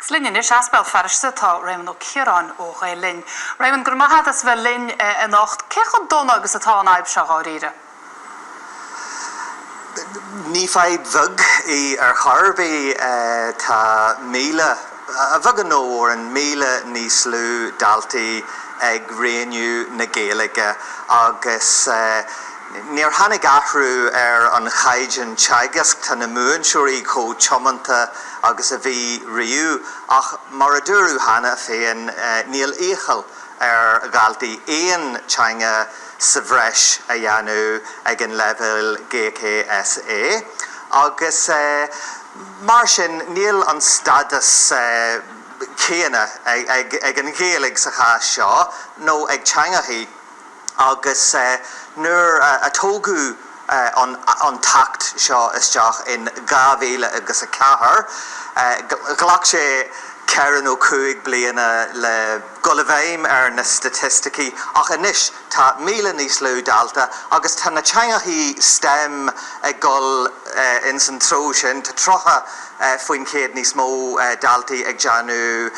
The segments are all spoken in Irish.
Agus linn anois as Béal Feirste tá Réamonn Ó Ciaráin ó Ghael Linn. Réamonn, go raibh maith 'at as bheith linn anocht. Cé chomh dona agus atá an fhadhb seo dháiríre? Ní fadhb bheag í ar chor ar bith. Tá míle, a bheagán nó a mhórán, míle níos lú daltaí ag roghnú na Gaeilge agus Níor tháinig athrú ar an chaighdeán teagaisc, tá na múinteoirí chomh tiomanta agus a bhí riamh, ach mar a dúradh cheana féin, níl iachall ar dhaltaí aon teanga sa bhreis a dhéanamh ag an leibhéal GCSE agus mar sin níl an stádas céanna ag an Ghaeilge sa chás seo nó ag teangachaí. agus nuair a tógadh an tAcht seo isteach in dhá mhíle agus a ceathair, ghlac sé ceithre nó cúig bliana le dhul i bhfeidhm ar na staitisticí, ach anois tá míle níos lú dalta agus tá na teangachaí stem ag dhul ins an treo sin, tá tríocha faoin chéad níos mó daltaí ag déanamh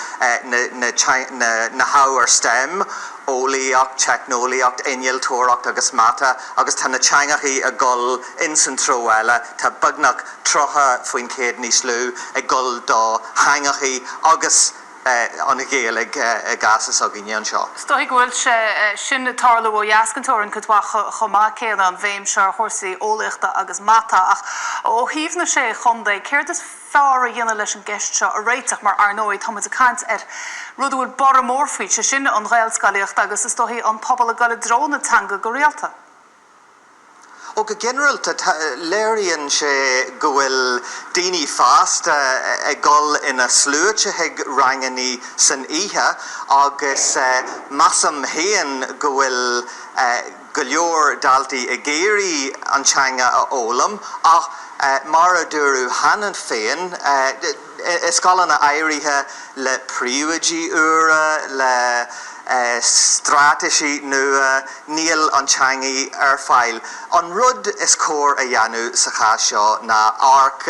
na hábhair stem, eolaíocht, teicneolaíocht, innealtóireacht agus mata agus tá na teangachaí ag dhul ins an treo eile, tá beagnach 30% níos lú ag dhul do theangachaí agus an Ghaeilge i gcás s'againne anseo. Is dóichí go bhfuil sé sin ag tarlú ó dheas den teorainn cuid mhaith chomh maith céanna, an bhéim seo ar chúrsaí eolaíochta agus mata, ach ó thaobh na sé chontae céard is fearr a dhéanamh leis an gceist seo a réiteach mar, ar ndóigh, tá muid ag caint ar rud a bhfuil borradh mór faoi, sé sin, an Ghaelscolaíocht agus, is dóichí, an pobal ag dul i dtreo na teanga go rialta. Ó, go ginearalta, tá, léiríonn sé go bhfuil daoine fásta ag dul ina sluaite chuig rangannaí san oíche agus measaim féin go bhfuil, go leor daltaí ag iarraidh an teanga a fhoghlaim ach mar a dúradh cheana féin, i scoileanna áirithe, le príomhoidí úra, le straitéisí nua, níl an teangaidh ar fáil. An rud is cóir a dhéanamh sa chás seo ná amharc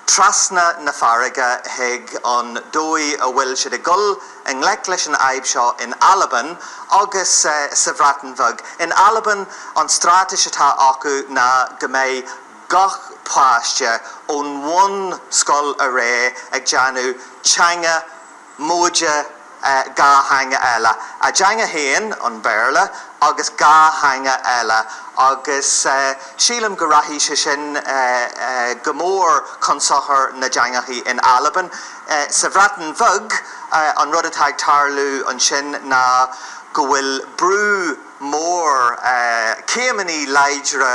trasna na farraige chuig an dóigh a bhfuil siad ag dul, i ngleic leis an fhadhb seo in Albain agus sa Bhreatain Bheag. In Albain, an stráitéis atá acu ná go mbeidh gach páiste ón bhunscoil ar aghaidh ag déanamh teanga móide dhá theanga eile, a dteanga féin, an Béarla, agus dhá theanga eile, agus sílim go rachaidh sé sin go mór chun sochair na dteangachaí in Albain. Sa Bhreatain Bheag, an rud atá ag tarlú ansin ná go bhfuil brú mór, céimeanna láidre,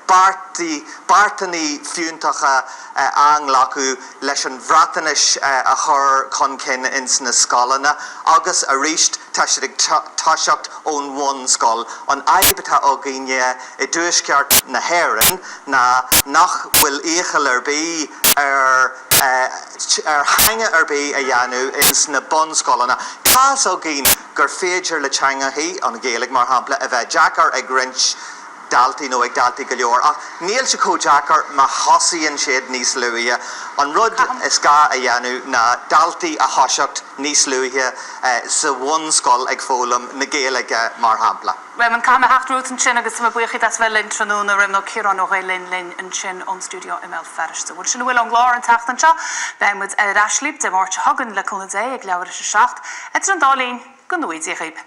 beartanna fiúntacha á nglacadh leis an Bhreatainis a chur chun cinn ins na scoileanna agus arís tá siad ag toiseacht ón bhunscoil. An fhadhb atá againne i dTuaisceart na hÉireann ná nach bhfuil iachall ar bith ar. ar theanga ar bith a dhéanamh ins na bunscoileanna. Tá's againn gur féidir le teangachaí, an Ghaeilg mar shampla, a bheith deacair ag roinnt daltaí nó ag daltaí go leor, ach níl sé chomh deacair má thosaíonn siad níos luaithe. An rud is gá a dhéanamh ná daltaí a thoiseacht níos luaithe sa bhunscoil ag foghlaim na Gaeilge, mar shampla. Réamonn, caithfidh mé theacht romhat ansin agus mo bhuíochas as bheith linn tráthnóna Réamonn Ó Ciaráin ó Ghael Linn linn ansin ón stiúideo i mBéal Feirste. Bhuel sin a bhfuil ón gclár an tseachtain seo, beidh muid ar ais libh Dé Máirt seo chugainn le cúnamh Dé ag leathuair tar éis a 7, idir an dá linn, go ngnóthaí Dia dhaoibh!